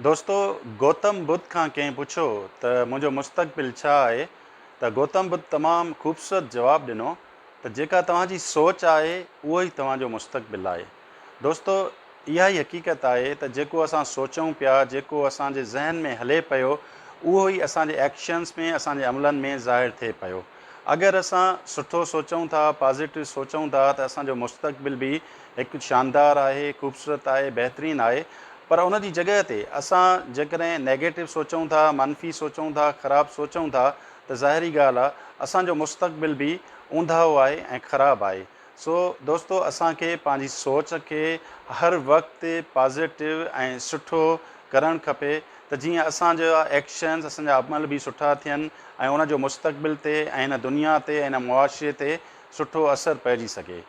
دوستو! گوتم ٻڌ کان ڪنهن پڇيو ته منهنجو مستقبل ڇا آهي ته گوتم ٻڌ تمام خوبصورت جواب ڏنو ته جيڪا توهان جي سوچ آهي اهو ئي توهان جو مستقبل آهي. دوستو! اها ئي حقيقت آهي ته جيڪو اسان سوچون پيا، جيڪو اسان جي ذهن ۾ هلي پيو اهو ئي اسان جي ايڪشنز ۾، اسان جي عملن ۾ ظاهر ٿئي پيو. اگر اسان سٺو سوچون ٿا، پازيٽو سوچون ٿا ته اسان جو مستقبل به هڪ شاندار آهي، خوبصورت آهي، بهترين آهي پر ان جي جڳهه تي اسان جيڪڏهن نيگيٽو سوچون ٿا، منفي سوچون ٿا، خراب سوچون ٿا ته ظاهري ڳالهه آهي اسان جو مستقبل به اونداهو آهي ۽ خراب آهي. سو دوستو اسان کي پنهنجي سوچ کي هر وقت پازيٽو ۽ سٺو ڪرڻ کپي ته جيئن اسان جا ايڪشنز اسان جا عمل به سٺا ٿين ۽ ان جو مستقبل تي ۽ هن دنيا تي ۽ هن معاشري تي سٺو اثر پئجي سگهي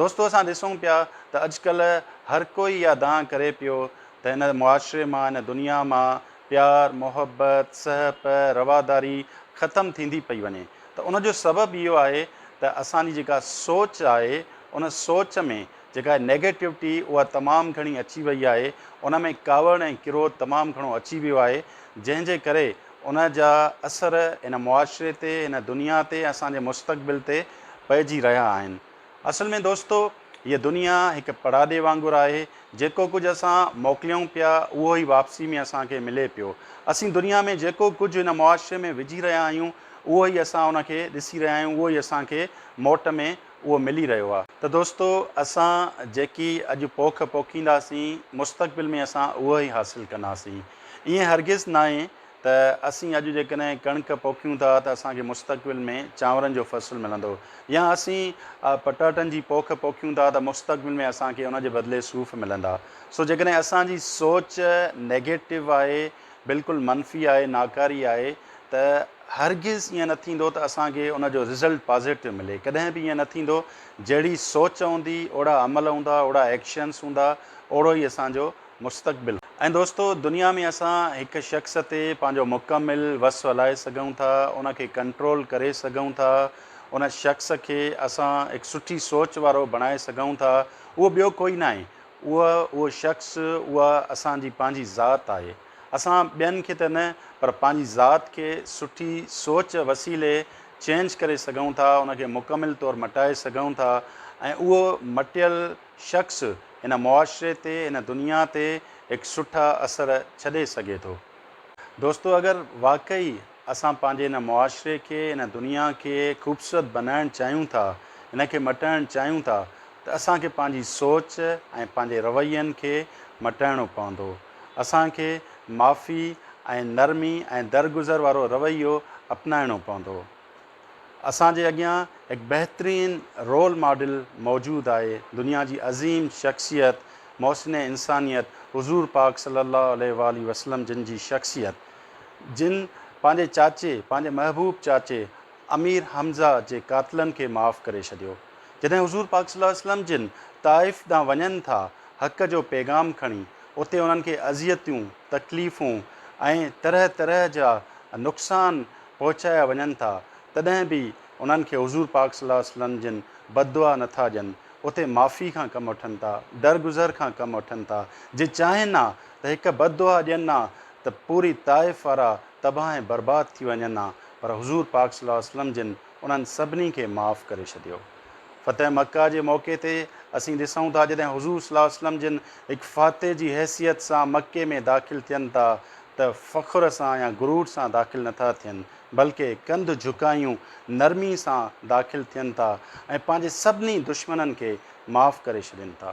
دوستو اسان ڏسون پيا ته اڄ ڪلهه هر ڪوئي اها دانهن ڪري پيو ته هن معاشري مان هن دنيا مان پيار محبت سهپ رواداري ختم ٿيندي پئي وڃي ته ان جو سبب اهو آهي ته اسان جي جيڪا سوچ آهي ان سوچ ۾ جيڪا نيگيٽوٽي اها تمام گهڻي اچي وئي آهي ان ۾ ڪاوڙ ۽ ڪروڌ تمام گهڻو اچي ويو آهي جنهن جي ڪري ان جا اثر هن معاشري تي هن دنيا تي اسان جي مستقبل تي پئجي رهيا آهن اصل ۾ دوستو هيء دنيا هڪ پڙاڏي وانگر آهي، جيڪو ڪجهه اسان موڪليون پيا اهو ئي واپسي ۾ اسان کي ملي پيو. اسين دنيا ۾ جيڪو ڪجهه هن معاشري ۾ وجهي رهيا آهيون اهو ئي اسان ان کي ڏسي رهيا آهيون اهو ئي اسان کي موٽ ۾ اهو ملي رهيو آهي. ته دوستو اسان جيڪي اڄ پوک پوکينداسين مستقبل ۾ اسان اهو ئي حاصل ڪنداسين. ائين هرگز ناهي ته اسين اڄ جيڪڏهن ڪڻڪ پوکيون ٿا ته اسان کي مستقبل ۾ چانورن جو فصل ملندو يا اسين پٽاٽن جي پوک پوکيون ٿا ته مستقبل ۾ اسان کي ان جي بدلي صوف ملندا سو جيڪڏهن اسان جي سوچ نيگيٽو آهي بلڪل منفي آهي ناڪاري آهي ته هرگز ائين نه ٿيندو ته اسان کي ان جو رزلٽ پازيٽو ملي ڪڏهن به ائين نه ٿيندو جهڙي سوچ هوندي اوڙا عمل هوندا اوڙا ايڪشنس هوندا اوڙو ئي اسان جو مستقبل. ۽ دوستو دنيا ۾ اسان هڪ شخص تي پنهنجو مڪمل وس هلائي سگهون ٿا، ان کي ڪنٽرول ڪري سگهون ٿا، ان شخص کي اسان هڪ سٺي سوچ وارو بڻائي سگهون ٿا، اهو ٻيو ڪوئي ناهي، اهو اهو شخص، اها اسان جي پنهنجي ذات آهي، اسان ٻين کي ته نه پر پنهنجي ذات کي سٺي سوچ وسيلي چينج ڪري سگهون ٿا، ان کي مڪمل طور مٽائي سگهون ٿا ۽ اهو مٽيل. شخص هن معاشري تي هن دنيا تي هڪ سٺا اثر ڇڏي سگهي ٿو. دوستو اگر واقعي اسان پنهنجي هن معاشري کي هن دنيا کي خوبصورت بنائڻ چاهيون ٿا هن کي مٽائڻ چاهيون ٿا ته اسان کي پنهنجي سوچ ۽ پنهنجي روين کي مٽائڻو پوندو اسان کي معافي ۽ نرمي ۽ درگذر وارو رويو اپنائڻو پوندو اسان جي اڳيان هڪ بهترين رول ماڊل موجود آهي، دنيا جي عظيم شخصيت محسن انسانيت حضور پاڪ صلي الله عليه واٰله وسلم جن جي شخصيت جن پنهنجي چاچي پنهنجي محبوب چاچي امير حمزه جي قاتلن کي معاف ڪري ڇڏيو جڏهن حضور پاڪ صلي الله عليه وسلم جن طائف ڏانهن وڃن ٿا حق جو پيغام کڻي اتي انهن کي اذيتون تڪليفون ۽ طرح طرح جا نقصان پهچايا وڃن ٿا تڏهن به انهن کي حضور پاڪ صلي الله عليه وسلم جن بددعا نه ٿا ڏين اتي معافي کان ڪم وٺن ٿا درگذر کان ڪم وٺن ٿا جي چاهين ها ته هڪ بددعا ڏين ها ته پوري طائف وارا تباهه ۽ برباد ٿي وڃن ها پر حضور پاڪ صلي الله عليه وسلم جن انهن سڀني کي معاف ڪري ڇڏيو فتح مڪه جي موقعي تي اسين ڏسون ٿا جڏهن حضور صلي الله عليه وسلم جن هڪ فاتح جي حيثيت سان مڪي ۾ داخل ٿين ٿا ته فخر سان يا غرور سان داخل نٿا ٿين، بلڪه ڪنڌ جهڪايون نرمي سان داخل ٿين ٿا ۽ پنهنجي سڀني دشمنن کي معاف ڪري ڇڏين ٿا.